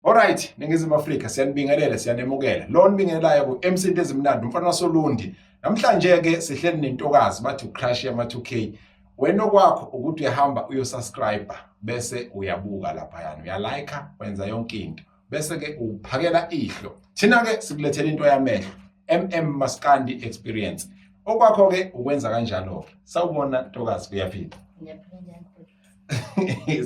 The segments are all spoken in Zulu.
Alright, Ningizimu Afrika siyanibingelela siyanemukela. Lo nibingelelayo ku MC into ezimnandi umfana wasoLundi. Namhlanje ke sihleli nentokazi bathi uCrush yama 2K. Wena okwakho ukuthi uyahamba uyosubscribe bese uyabuka lapha yana uyalike wenza yonke into. Bese ke uphakela ihlo. Thina ke sikulethela into yamehlo. MM Maskandi experience. Okwakho ke ukwenza kanjalo ke. Sawubona ntokazi kuyaphila. Ngiyaphila.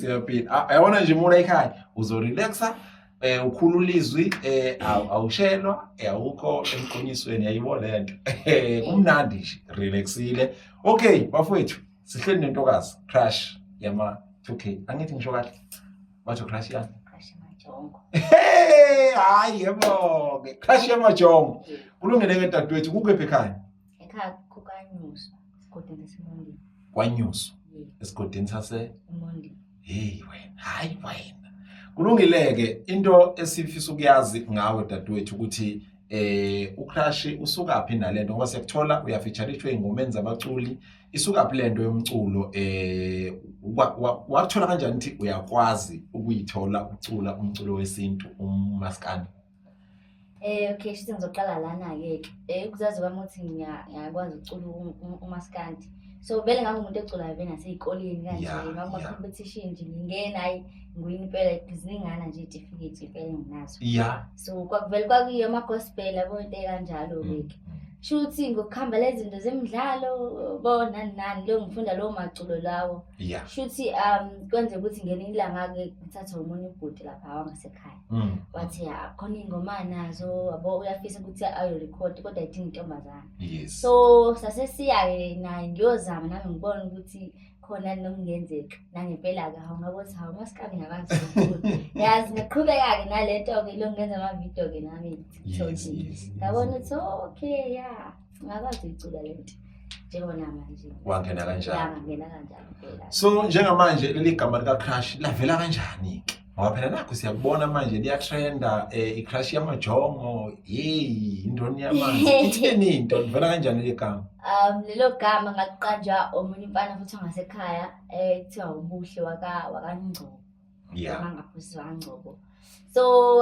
siyaphila ah, yabona nje mula ekhaya uzorelaxa eh ukhulula izwi eh awushelwa eh, awukho emqonyisweni yayibo lento eh, kumnandi nje relaxile okay bafowethu sihleli nentokazi crash yama 2k angithi ngisho kahle batho crash yani hayi yebo-ke crash yamajongo kulungele-ke dadewethu kukephi ekhaya ekhaya kukanyuswa esigodini sasemondini kwanyuswa Ye, esigodini sase emondini heyi wena hayi wena kulungile-ke into esifisa ukuyazi ngawe dadewethu ukuthi eh ukrashi usukaphi nale nto ngoba siyakuthola uyafitshalishwa ey'ngomeni zabaculi isukaphi le nto yomculo eh wa- wa- wakuthola kanjani ukuthi uyakwazi ukuyithola ucula umculo wesintu umaskandi Eh okay shithi ngizoqala lana ke ke. Eh kuzazi kwami ukuthi ngiya- ngiyakwazi ukucula u- u- umaskandi. So vele ngangumuntu eculayo vele nasezikoleni kanje Yeah, yeah. ngakuma competition nje ngingena hayi ngiwini impela ziningana nje itifiketi impela enginazo. ya So kwakuvele kwakuyiyo ama gospel yabo into kanjalo ke. ke. Shuthi ngokuhamba lezinto zemidlalo bona nani lo ngifunda lo maculo lawo. ya Shuthi um kwenze ukuthi ngelinye ilanga ke ngithathwe umunye ubhuti lapha wangasekhaya. Mm. wathi ya khona ingoma anazo yabo uyafisa ukuthi ayorekhodi kodwa idinga intombazana Yes. so sasesiya-ke naye ngiyozama nami ngibona ukuthi khona nomngenzeka nangempela-ke hawu ngabo ukuthi hawu masikabi ngakazulu yazi ngiqhubeka-ke nale nto-ke lo ngenza amavidiyo-ke nami Yes, TikTok. yes, yes. ngabona ukuthi oh, okay ya ngakwazi uyicula le nto njengoba namanje Wangena kanjani? yangangena kanjalo phela So njengamanje leli gama lika crush lavela kanjani? ngoba phela nakho siyakubona manje liyatrenda um eh, icrash yamajongo yeyi intoni yamanzi itheni into livela kanjani le gama um lelo gama ngakuqanja omunye umfana futhi ongasekhaya um kuthiwa ubuhle wakangcobo ya mangaphosisi wakangcobo so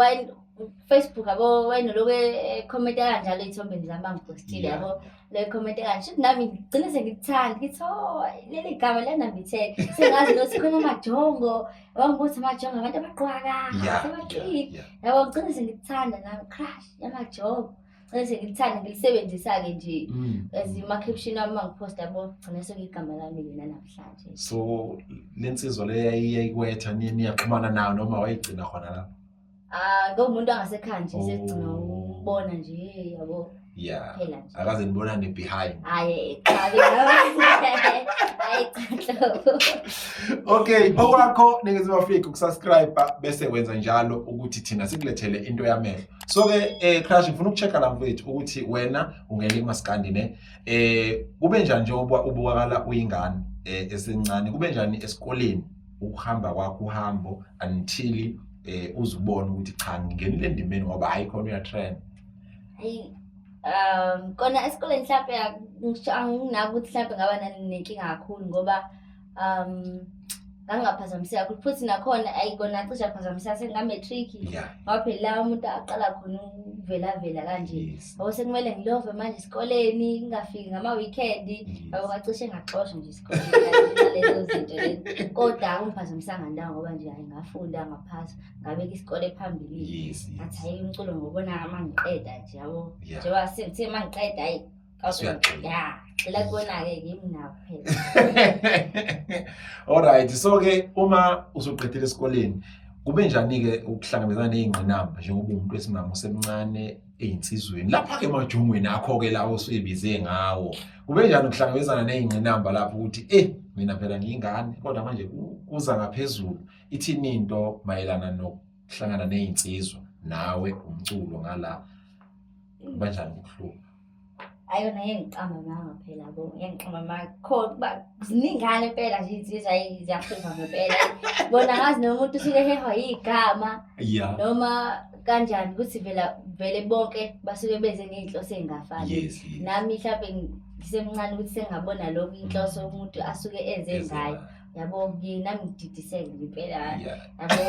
Facebook yabo wena lokho ekhomenta eh, kanjalo ey'thombeni zami bangipostile yabo le khomenta kanje shuthi nami ngigcine sengikuthanda ngithi o oh, leli gama liyanambitheka sengazi nokuthi khona amajongo wangibuthi amajongo abantu abaqwaka sebaqili yabo ngigcine sengikuthanda nami crush yamajongo gcine sengikuthanda ngilisebenzisa-ke nje mm. as umakeption wami uma ngiphosta yabo gcine sekuyigama lami lena namhlanje so le nsizwa le yayikwetha niyaxhumana nayo noma wayigcina khona lapho ah lo muntu angasekhaya nje sekugcina Oh. ukubona nje yabo yeah phela nje akaze nibonane behind hayi eqhabi hayi qhlo okay okwakho ningizimu afrika ukusubscribe bese wenza njalo ukuthi thina sikulethele into yamehlo so ke eh crash ngifuna ukuchecka la mfethu ukuthi wena ungena emaskandi ne eh kube njani njengoba ubukakala uyingane eh esencane kube njani esikoleni ukuhamba kwakho uhambo until eh uzibone ukuthi cha ngingenile endimeni ngoba hayi khona uyatrend Eyi, um kona esikoleni mhlampe angisho- anginaki ukuthi mhlampe ngaba nani nenkinga kakhulu ngoba um ngangingaphazamiseka kakhulu futhi nakhona ayi kona cishe aphazamiseka senginga-matric yeah ngaphelelayo umuntu aqala khona ukuvelavela kanje yes ngoba sekumele ngilove manje esikoleni ngingafiki ngama-weekend yabo bacishe ngaxosha nje isikolelezo zinto lezi kodwa akungiphazamisanga ndawo ngoba nje hayi ngafunda ngaphasa ngabeka isikole phambilini ngathi hayi umculo ngobona uma ngiqeda nje yabo njengoba sithe uma ngiqeda hayi ya cela kubona-ke kimi nawo phela olright so-ke uma usuqedile esikoleni kube njani-ke ukuhlangabezana ney'ngqinamba njengoba umuntu wesimama usemncane eyinsizweni lapha-ke emajongweni akho-ke lawo osuyebize ngawo kube njani ukuhlangabezana ney'ngqinamba lapho ukuthi e mina phela ngiyingane kodwa manje kuza ngaphezulu ithini into mayelana nokuhlangana ney'nsizwa nawe umculo ngala kubanjani ukuhlupha ayona yengiqamba manga phela bo yengiqamba manga kho ziningane impela nje insizwa ziyaphupha ngempela bona ngazi noma umuntu usuke hehwa yigama yeah noma kanjani ukuthi vela vele bonke basuke beze ngey'nhloso ey'ngafani yes, yes. nami mhlawumbe ngisemncane ukuthi sengabona lokho inhloso umuntu asuke enze ngayo yabo ngina ngididiseke nje impela Yeah. yabo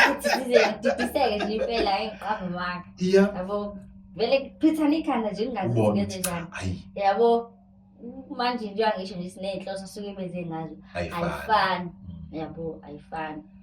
futhi size ngididiseke nje impela hayi ngiqamba manga Iya. yabo vele kuphithana ikhanda nje ngingazi ukuthi Ubona ngenze njani Ayi, yabo manje njengoba ngisho nje siney'nhloso suke benze ngazo ayifani. ayifani yabo ayifani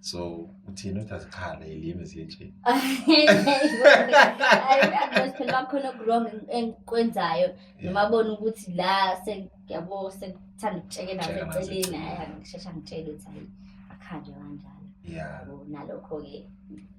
so uthini uthi azikhale ilimi zinje phela bakhona okuwrong enkwenzayo noma bona ukuthi la sengiyabo sekuthanda ukutshekela eceleni hayi angishesha ngitshele ukuthi hayi akhanjwe kanjalo yabo nalokho-ke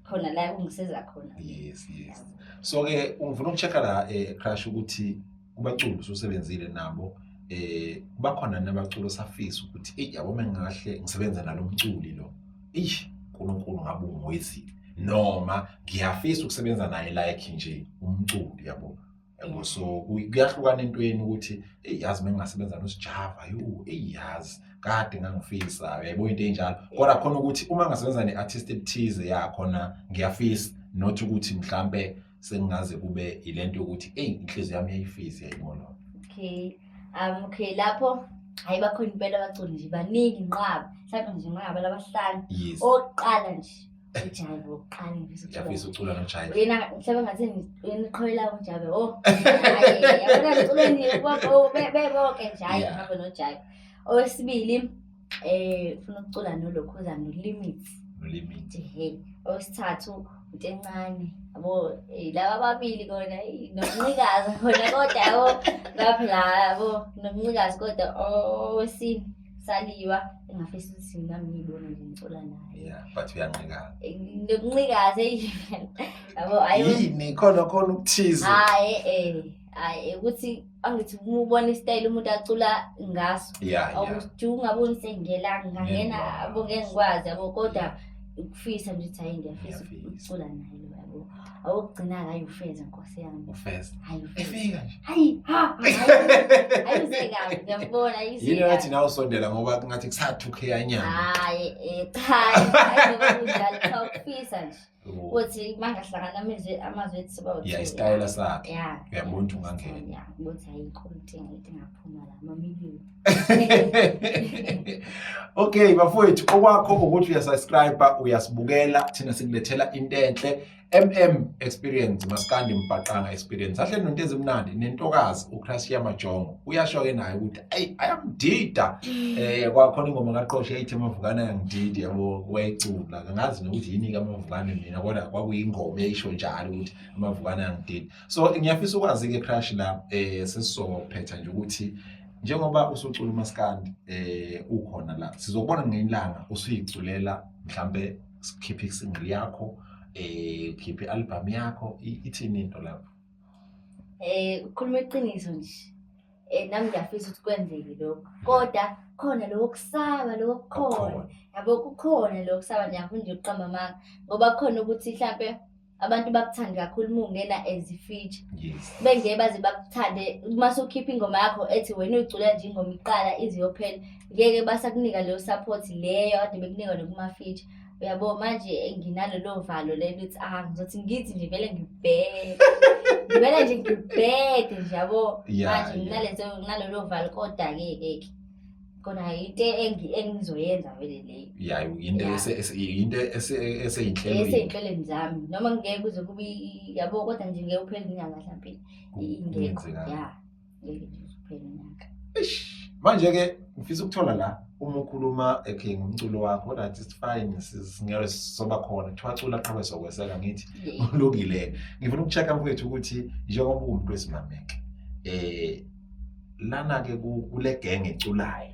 khona la kungisiza khona yes yes so-ke ngifuna uku-check-a la um crush ukuthi kubaculi ususebenzile nabo eh bakhona nabaculi osafisa ukuthi eyi yabo mengahle ngisebenza nalo mculi lo eish uNkulunkulu ngabe ungwezile noma ngiyafisa ukusebenza naye like nje umculi yabo yabo so kuyahlukana entweni ukuthi eyi yazi mengingasebenza nosijava yo eyi yazi kade ngangifisa yaybo into enjalo kodwa khona ukuthi uma ngasebenza ne-artist ethize yakhona ngiyafisa not ukuthi mhlampe sengaze kube ilento yokuthi eyi inhliziyo yami yayifisi yayibona okay um okay lapho hayi bakhona impela abaculi nje baningi nqaba mhlawumbe nje nqaba labahlanu oqala nje ujabe oqala ngiyafisa ucula nojabe yena mhlawumbe ngathi yena iqhoyela ujabe oh yabona ngiculeni bebo beboke nje hayi ngihambe nojabe owesibili Eh ufuna ukucula nolokhuza no limits. No limits. Ehe. Owesithathu utencane. Yabo eh, laba babili kona nokuncikaza khona kodwa yabo lapha la yabo nokuncikaza kodwa owesini saliwa engafisa ukuthi nami ngiyibone nje ngicula naye. Yeah, but uyanqikaza. Eh, nokuncikaza yini? Yabo ayo. Yini khona khona ukuthize. Hayi eh. hayi ukuthi angithi uma ubona isitayile umuntu acula ngaso Yeah, yeah. awuthi ungaboni sengela ngangena Ngiyakwazi. abo ngeke ngikwazi yabo kodwa ukufisa nje ukuthi hayi ngiyafisa Ngiyafisa. ukucula naye lo yabo awokugcina hayi ufeze nkosi yami Ufeza. hayi ufeze Efika nje. hayi ha ayizekayo ngiyambona Yini wathi ayizekayo nawe usondela ngoba kungathi kusathuke yanyama. hayi eh, cha hayi hayi ngoba kunjalo cha ukufisa nje ukuthi bangahlangana amazwi amazwi ethi siba yeah isitayela sakhe uyabona ukuthi ungangena yeah ukuthi ayikho inkinga ethi ngaphuma la mamiliyoni okay bafowethu okwakho ukuthi uyasubscribe uyasibukela thina sikulethela into enhle MM experience maskandi mbhaqanga experience ahle nonto ezimnandi nentokazi uCrashia Majongo uyasho ke naye ukuthi eyi ayamdida um eh, kwakhona ingoma kaqoshe eyithi amavukane ayangididi yabo wayecula kangazi nokuthi yini-ke amavukane mina kodwa kwakuyingoma eyisho njalo ukuthi amavukane ayangididi so ngiyafisa ukwazi-ke crush la um eh, sesizophetha nje ukuthi njengoba usucula umaskandi um ukhona la sizobona ngelanga usuyiculela mhlampe sikhiphe isingle yakho um ukhiphe i-albhamu yakho ithini into lapho um ukukhuluma iqiniso nje Eh, nami ngiyafisa ukuthi kwenzeke lokho kodwa khona lokho kusaba lokho kukhona yabo kukhona lokho kusaba ngiyakhona nje ukuqamba amanga ngoba kukhona ukuthi mhlampe abantu bakuthande kakhulu uma ungena as ifeature bengeke baze bakuthande uma sukhipha ingoma yakho ethi wena uyicula nje ingoma iqala ize yophela ngeke basakunika leyo support leyo kade bekunika nokuma-feature uyabo manje nginalolo valo lelo ukuthi ah ngizothi ngithi nje vele ngibheke ngivele nje ngibheke nje yabo Yeah, manje yeah. nginalezo nginalolo valo kodwa-ke ke kona into engi- engizoyenza vele leyo ya yinto Yeah. ese- ese- yinto ese- eseyinhlelweni eseyinhlelweni zami noma ngeke kuze kube i- yabo kodwa nje ngeke uphele inyanga mhlawumbe ingekho Kungenzeka. ya ngeke nje usuphele unyaka Eish. manje ke ngifisa ukuthola la uma ukhuluma okay ngomculo wakho kodwa it's fine si- singeke soba khona kuthiwa cula qhawe sokweseka ngithi Yeah. kulungile ngifuna ukuchecka mfowethu ukuthi njengoba uwumuntu wesimameke eh lana ke ku- kule genge eculayo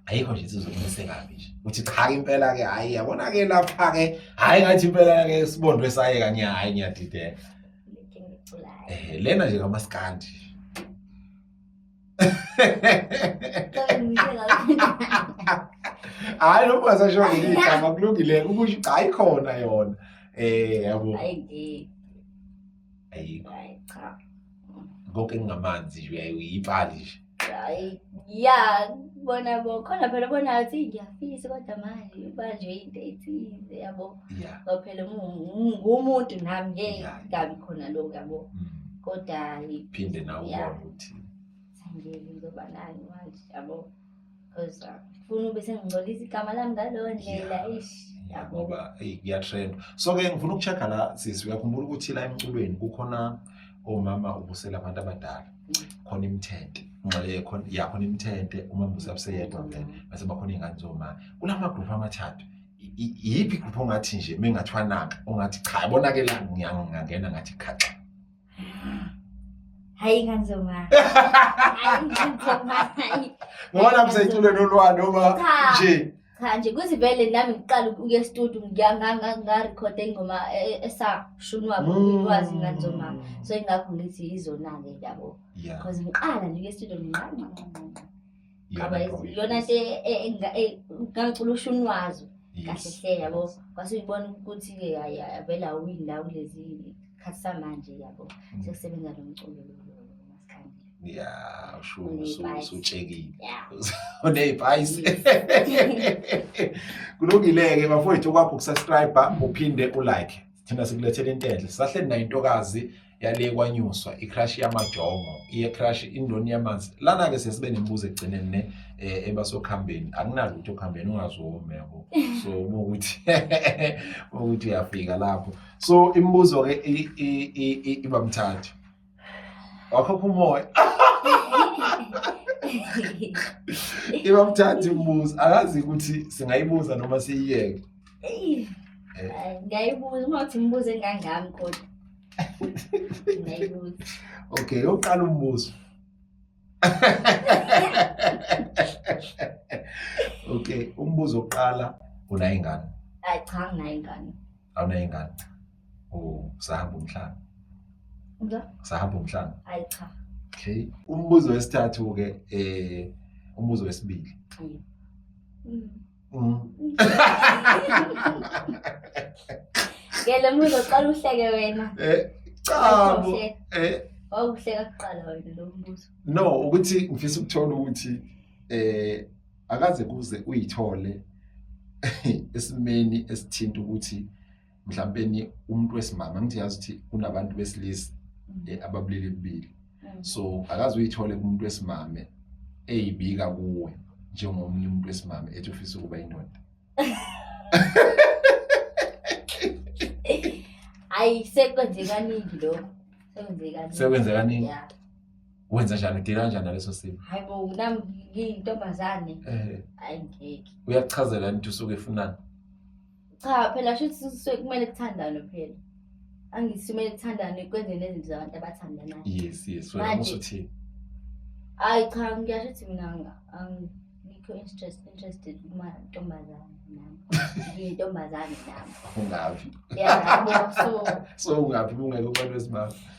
ayikho nje sizokumeseka kabi nje uthi cha ke impela ke hayi yabona ke lapha ke hayi ngathi impela ke sibondwe saye kanye hayi ngiyadideka Eh, lena nje kamaskandi hayi noma ungasasho ngelinye igama kulungile ukusho ukuthi hayi khona yona eh yabo ayikho konke engingamanzi nje uyaye uyipali nje Hayi, ya bona bo khona phela bona athi ngiyafisa kodwa manje ubanjwe into ethize yabo. Yeah. Ngoba phela ngu- ngumuntu nami ngeke Yeah. ngabi khona lokho yabo. Mm. Kodwa hayi, Phinde nawe Yeah. ubone ukuthi angeke ngizoba nani manje yabo. because uh, funa ube sengingcolisa igama lami ngaleyo ndlela ish ngoba kuyatrend so ke ngifuna ukucheck-a la sisi uyakhumbula ukuthi la emculweni kukhona omama ubusela abantu abadala khona imithente ngxele khona ya khona imithente uma mbuze abuseyedwa vele base bakhona iy'ngane zomama kula magrupu amathathu iyiphi igruphu ongathi nje mengathiwa naka ongathi cha yabonakela ngiyangena ngathi khaxa Hayi kanzoma. Hayi kanzoma. Hayi. Ngoba lapho seyicule nolwa noma Cha. nje. Cha nje kuthi vele nami ngiqala ukuya estudio ngiya nga- nga- nga record ingoma e- esashunwa kulwazi kanzoma. So ingakho ngithi izona ke yabo. Yeah. Cause ngiqala nje estudio ngiqala. Iyona Yabo, ngoma iyona nto e- e- enga- e- ngangicula usho unwazo Yes. kahle hle yabo Yes. kwase uyibona ukuthi ke hayi avela awini la kulezi khathi samanje yabo Mm. sekusebenza lo mculo lo- lo- lo- maskandi ya usho Uneyipayisi. usu- usutshekile ya uneyipayisi kulungile-ke bafowethu kwakho ukusubscribe uphinde ulike thina sikulethela into enhle sisahleli nayo intokazi yale kwanyuswa icrash yamajongo iye crash indoni yamanzi lana ke sesibe nembuzo egcineni ne eh, ebasokhambeni akunalo ukuthi okhambeni ungazomi yabo so uma ukuthi ukuthi uyafika lapho so imibuzo ke iba mthathu wakho kumoya iba mthathu imibuzo akazi ukuthi singayibuza noma siyiyeke eh. ngayibuza uma uthi imibuzo engangami kodwa Ngiyayibuza. Okay, yokuqala umbuzo. Okay, umbuzo wokuqala unayo ingane. Hayi cha nginayo ingane. Awunayo ingane. Oh, sahamba umhlaba. Uza? Sahamba umhlaba. Hayi cha. Okay. Umbuzo wesithathu ke eh umbuzo wesibili. Hayi. Mm. Ngele muzo qala uhleke wena. Eh cha bo. Eh wawuhleka kuqala wena lo mbuzo. No ukuthi ngifisa ukuthola ukuthi eh akaze kuze uyithole esimeni esithinta ukuthi mhlawumpeni umuntu wesimama ngithi yazi ukuthi kunabantu besilisa mm. eh, ababulili bubili mm. so akaze uyithole kumuntu wesimame eyibika kuwe njengomunye umuntu wesimame ethi ufisa ukuba indoda hayi sekwenzekaningi lokho sekwenzekaningi wenza njani udila kanjani naleso simo hayi bo nami ngiyintombazane eh. hayi ngeke uyakuchazela nti usuke efunani cha phela shuthi sisuke kumele kuthandane phela angithi kumele kuthandane kwenzeni nezinto zabantu abathandanayo yes yes wena Manje. musa uthini hayi cha ngiyasho ukuthi mina nga- angikho interest interested kumantombazane nami ngiyintombazane nami ungavi ya yabo so so ungavi bungeke ubantu besibaba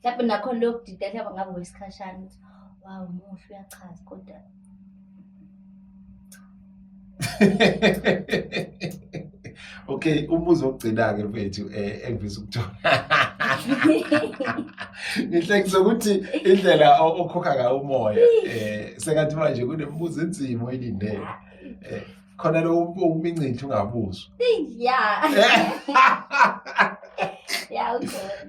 mhlawumbe nakhona leyo kudida hlaba ngabe wesikhashana ukuthi wawu muhle uyachaza kodwa okay umbuzo ogcina-ke mfethu um eh, engivisa ukuthola ngihlekisa ukuthi indlela okhokha ngayo umoya um eh, sekathi manje kunemibuzo enzima oyilindele um eh, khona lo umincithe ungabuzwa ya ya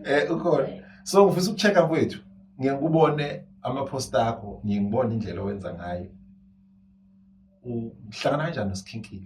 eh ukhona so ngifisa ukuchecka kwethu ngiyakubone ama-post akho ngiye ngibone indlela owenza ngayo uhlangana kanjani nosikhinkile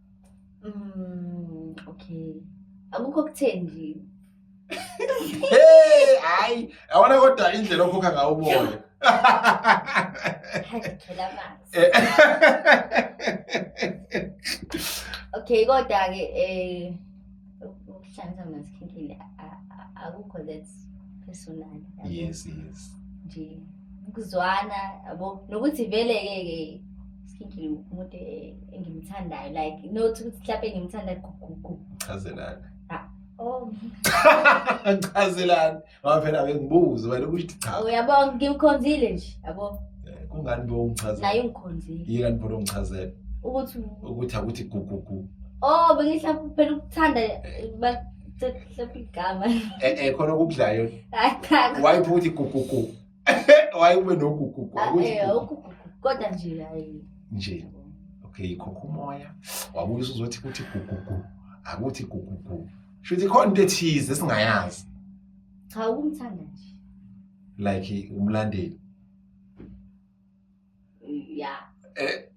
Mm, okay. Akukho okutheni nje. Hey, hayi, awona kodwa indlela okhokha ngawo uboya. Ngithola amanzi. Eh. Okay, kodwa ke eh ukuhlanza mazikhethile akukho that personal yes yes nje ukuzwana yabo nokuthi vele ke ke sikhethile umuntu engimthandayo like not ukuthi mhlawumbe ngimthanda gugugu chazelana ah oh chazelana ngoba phela bengibuze wena ukuthi cha uyabo ngimkhonzile nje yabo eh, kungani bo ungichazela naye ungikhonzile yini bo ungichazela ukuthi ukuthi akuthi gugugu oh bengihlapha phela ukuthanda bahlapha igama eh eh khona okudlayo wayiphupha ukuthi gugugu wayekube nogugugu ah, ukuthi eh, kodwa nje hayi nje okay khokho umoya wabuye uzothi kuthi gugugu akuthi gugugu Shuthi khona into ethize esingayazi. Cha ukumthanda nje. Like umlandeli. Yeah. Eh.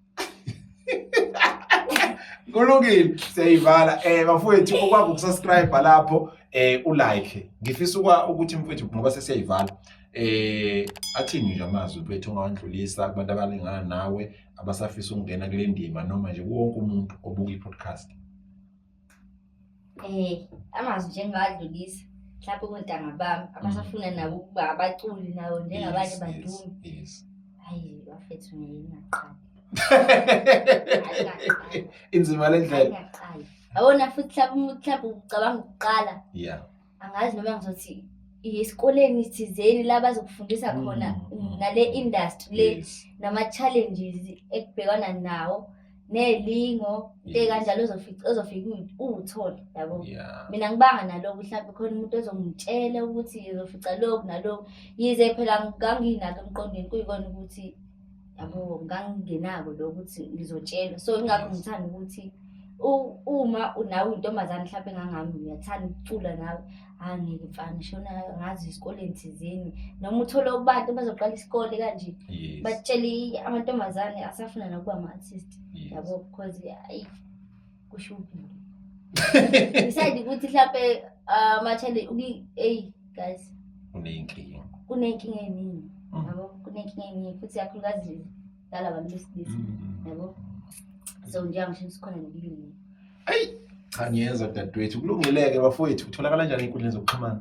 Kulungile siyayivala eh bafowethu okwakho ukusubscribe lapho eh ulike ngifisa ukuthi mfowethu ngoba sesiyayivala eh athini nje amazwi bethu ongawandlulisa kubantu abalingana nawe abasafisa ukungena kule ndima noma nje wonke umuntu obuka i-podcast Eh, amazwi nje engiwadlulisa mhlawumbe kontanga bami abasafuna nabo ukuba abaculi nawo njengabanye badumi yes hayi bafethu ngeke ngaqali inzima le ndlela ngaqali awona futhi mhlawumbe mhlawumbe ucabanga ukuqala yeah angazi noma ngizothi esikoleni thizeni la bazokufundisa mm, khona mm. ngale industry le nama-challenges ekubhekwana nawo nelingo nte kanjalo ozofika uwuthole yabo mina ngibanga naloko mhlawumbe khona umuntu ozongitshela ukuthi uzofica loku naloku yize phela ngangiyinako emqondweni kuyikona ukuthi yabo ngangingenako lo ukuthi ngizotshelwa so ingakho ngithanda ukuthi uma nawe intombazane mhlawumbe engangami uyathanda ukucula nawe angeke mfana shona ngazi esikoleni thizeni noma uthole abantu bazoqala isikole kanje batshele amantombazane asafuna nakuba ama-artist yabo because kushubhile decide ukuthi mhlampe ah, ama-challenge uki- eyi guys uneyinkinga kunenkinga eningi Mm. yabo kunenkinga eningi futhi kakhulukazi lala bantu besilisa Mm. yabo so njengamshini sikhona nokuyini cha ngiyezwa dadewethu kulungile-ke bafowethu utholakala njani ey'nkundleni zokuxhumana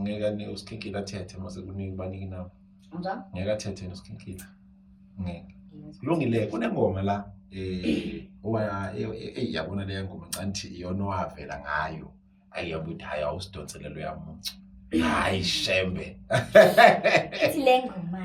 ngeke anike usikhinkila athethe uma sekuningi banike inamba ngeke athethe yena usikhinkila ngeke kulungile kunengoma la um eyi yabona leya ngoma ncanthi iyona owavela ngayo ayi yabuthi hhayi awusidonselelo yamuntu hhayi shembe ithi le ngoma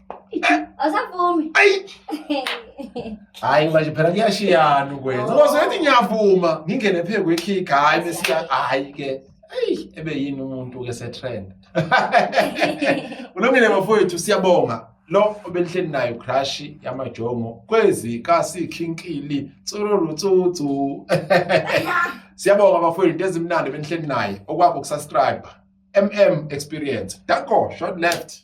Awusavumi. Ayi. Hayi manje phela kuyashiyana ukwenza. Ngoba soyethi ngiyavuma, ngingene phe kwekick hayi besiya hayi ke. Ayi ebe yini umuntu ke se trend. Ulungile bafowethu siyabonga. Lo obelihleli nayo crush yamajongo kwezi kasi khinkili tsururu tsutsu. Siyabonga bafowethu into ezimnandi benihleli naye okwakho kusubscribe. MM experience. Danko short left.